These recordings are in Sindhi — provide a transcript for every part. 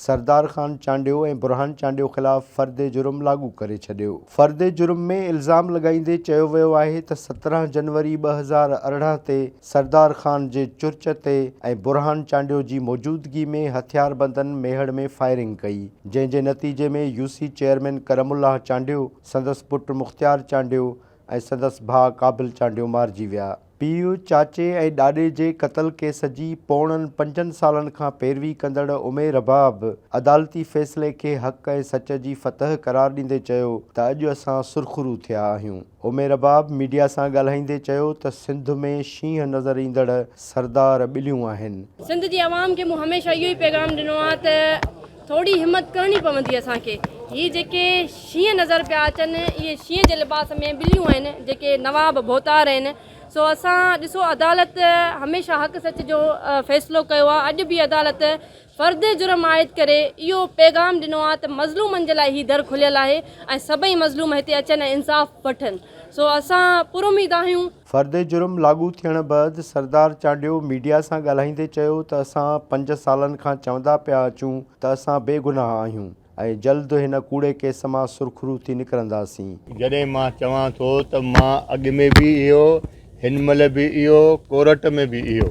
سردار خان چانڊيو ۽ برهان چانڊيو خلاف فرد جرم لاڳو ڪري ڇڏيو. فرد جرم ۾ الزام لڳائيندي چيو ويو آهي ته سترهن جنوري ٻه هزار ارڙهن تي سردار خان جي چرچ تي ۽ برهان چانڊيو جي موجودگي ۾ هٿياربندن ميهڙ ۾ فائرنگ ڪئي جنهن جي نتيجي ۾ يوسي چيئرمين ڪرم الله چانڊيو، سندس پٽ مختيار چانڊيو ۽ سندس ڀاء قابل چانڊيو مارجي ويا. پيء، چاچي ۽ ڏاڏي جي قتل ڪيس جي پوڻن پنجن سالن کان پيروي ڪندڙ عمير رباب عدالتي فيصلي کي حق ۽ سچ جي فتح قرار ڏيندي چيو ته اڄ اسان سرخرو ٿيا آهيون. عمير رباب ميڊيا سان ڳالهائيندي چيو ته سنڌ ۾ شينهن نظر ايندڙ سردار ٻليون آهن. سنڌ جي عوام کي مون هميشه اهو ئي پيغام ڏنو آهي ته ٿوري همت ڪرڻي پوندي اسان کي. هي جيڪي شينهن نظر پيا اچن، اهي شينهن جي لباس ۾ ٻليون آهن، جيڪي نواب ڀوتار آهن. سو اسان ڏسو عدالت هميشه حق سچ جو فيصلو ڪيو آهي، اڄ به عدالت فرد جرم عائد ڪري اهو پيغام ڏنو آهي ته مظلومن جي لاء هي در کليل آهي ۽ سڀئي مظلوم هتي اچن ۽ انصاف وٺن. سو اسان پراميد آهيون. فرد جرم لاڳو ٿيڻ بعد سردار چانڊيو ميڊيا سان ڳالهائيندي چيو ته اسان پنج سالن کان چوندا پيا اچون ته اسان بي گناهه آهيون ۽ جلد هن ڪوڙي ڪيس مان سرخرو ٿي نڪرنداسين. جڏهن مان چوان ٿو ته مان اڳ ۾ به اهو، هن مهل به اهو، ڪورٽ ۾ به اهو.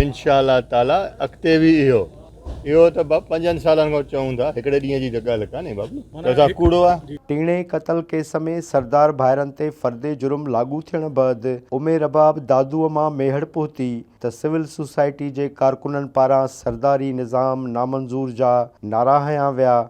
انشاء الله تعالٰي اڳتي به اهو اهو ته ٻه پنجن سالن کان چئون ٿا هڪڙي ڏينهن جي ته ڳالهه ڪانهي بابو چئو ٿا ڪوڙو آ. ٽيڻي قتل ڪيس ۾ سردار ڀائرن تي فرد جرم لاڳو ٿيڻ بعد امي رباب دادوء مان ميهڙ پهتي ته سول سوسائٽي جي ڪارڪنن پاران سرداري نظام نامنظور جا نعرا هنيا ويا،